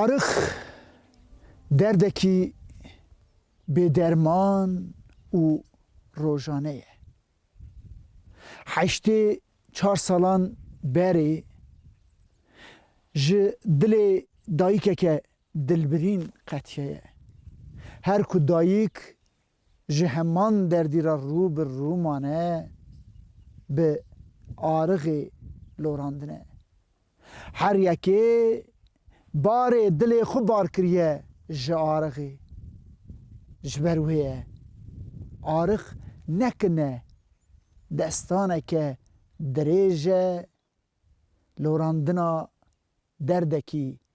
Arix derdekî bêderman û rojane ye. Heştê çar salan berê ji dilê dayikeke Dilbirîn qetiye ye. Her ku dayik ji heman derdî re rû bi rû mane, bi arixê lorandine. Her yekê barê dilê xwe bar kiriye ji arixê. Ji ber wê ye arix ne ki ne, destaneke dirêj e, lorandina derdekî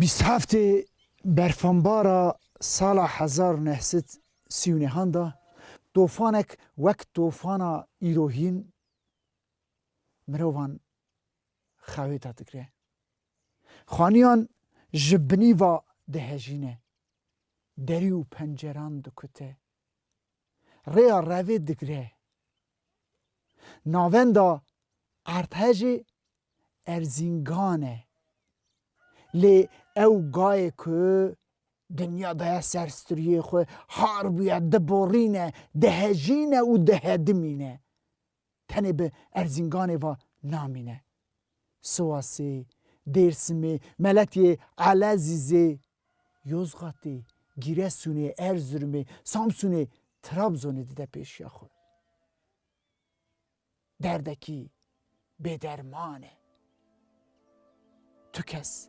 Bîst heftê berfanbara sala hezar û neh sed sî û nêhan de tofanek wek tofana îro hîn mirovan xewêta dikire. Xaniyan ji binî ve dihejîne, derî û penceran dikute, rêya revê digire, Navenda Erdhejê Erzîngan e. Lê ew gayê ku dinya daya ser striyê xwe har bûye, diborîne, dihejîne û dihedimîne. Tenê bi Erzînganê ve namîne. Siwasê, Dêrsimê, Meletiyê, Elezîzê, Yozgatê, Gîresunê, Erzirumê, Samsunê, Trabzonê dide pêşiya xwe. Derdekî bêderman e. Tu kes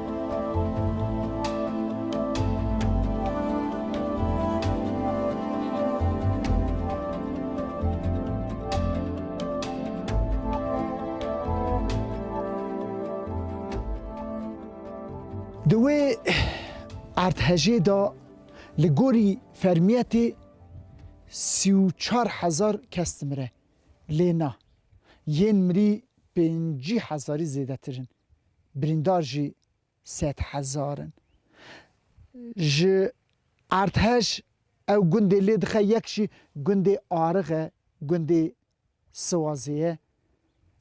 Di wê erdhejê de li gorî fermiyetê sî û çar hezar kes dimire lê na, yên mirî pêncî hezarî zêdetir in. birîndar jî sed hezar in. Ji Erdheş ew gundê lê dixe yek jî gundê Arix e, gundê Siwazê ye.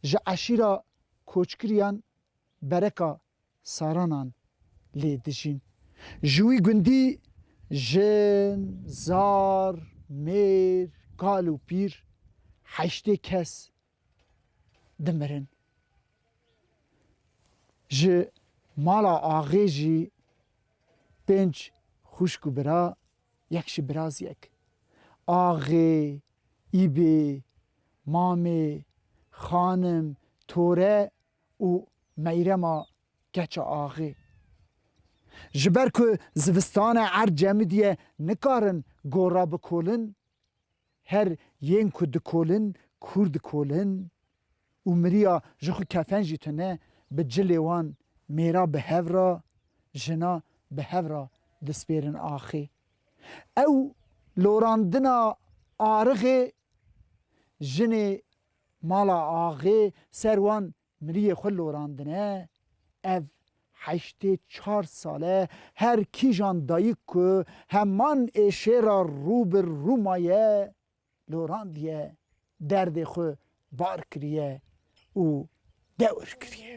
Ji eşîra koçkiriyan Bereka Saranan lê dijîn. Ji wî gundî jin, zar, mêr, kal û pîr heştê kes dimirin. Ji mala axê jî pênc xwişk û bira, yek jî biraz yek. Axê, îbê, mamê, xanim, tore û meyrema keça axê. Ji ber ku zivistane erd cemidî ye nikarin gora bikolin, Her yên ku dikolin kûr dikolin û miriya ji xwe kefen jî tune bi cilê wan mêra bi hev ra, jina bi hev ra dispêrin axê. Ew lorandina arixê jinê mala axê ser wan Miriyê xwe lorandine, ev heştê çar sal e her kîjan dayik ku heman êşêra rû bi rû maye lorandiye, derdê xwe bar kiriye û dewr kiriye.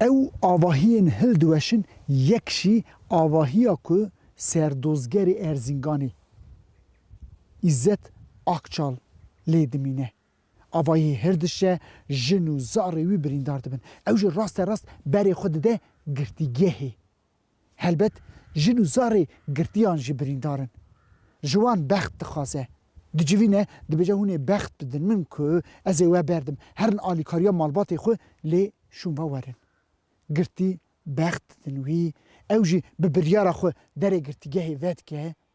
Ew avahiyên hil diweşin yek jî avahiya ku serdozgerê Erzînganê Îzzet Akçal lê dimîne. Avahiyê hir dişe, jin û zarê wî birîndar dibin. Ew jî raste rast berê xwe dide girtîgehê Helbet jin û zarê girtiyan jî birîndar in. Ji wan bext dixwaze. Dicivîne, dibêje hûn ê bext bidin min ku ez ê we berdim, herin alîkariya malbatê xwe lê şûn ve werin. Girtî bext didin wî, ew jî bi biryara xwe derê girtîgehê vedike,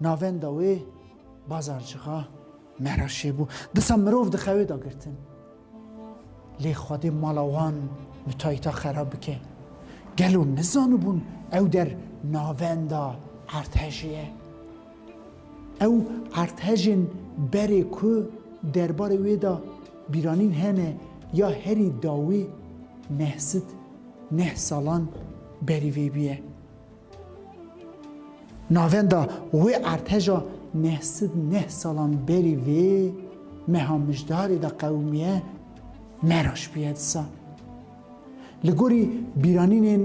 Navenda wê bazarcıxa Mehraşê bû. Disa mirov di xewê da girtin. Lê Xwedê mala wan mütayita xerab bike. Gelo nizanibûn ew der navenda Ertehejê ye. Ew Ertehejên berê ku derbarê wê da bîranîn hene ya herî dawî neh sit neh salan berî vê bîye. Navenda wê artêşa neh sed neh salan berî vê meha mijdarê de qewimiye meraş bûye disa. Li gorî bîranînên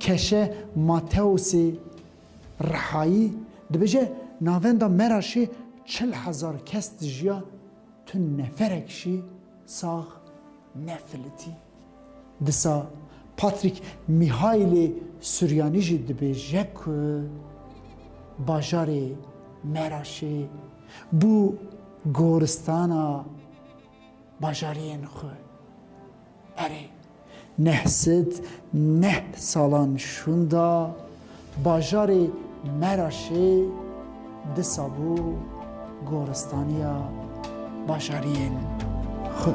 Keşe Mateosê Rihayî dibêje navenda Meraşê çil hezar kes dijiya tu neferek jî sax nefilitî. Disa Patrick Mihailê Suryanî jî dibêje ku bajarê Meraşê bû goristana bajariyên xwe. Erê, neh sed neh salan şûnda. Bajarê Meraşê disa bû goristaniya bajariyên xwe.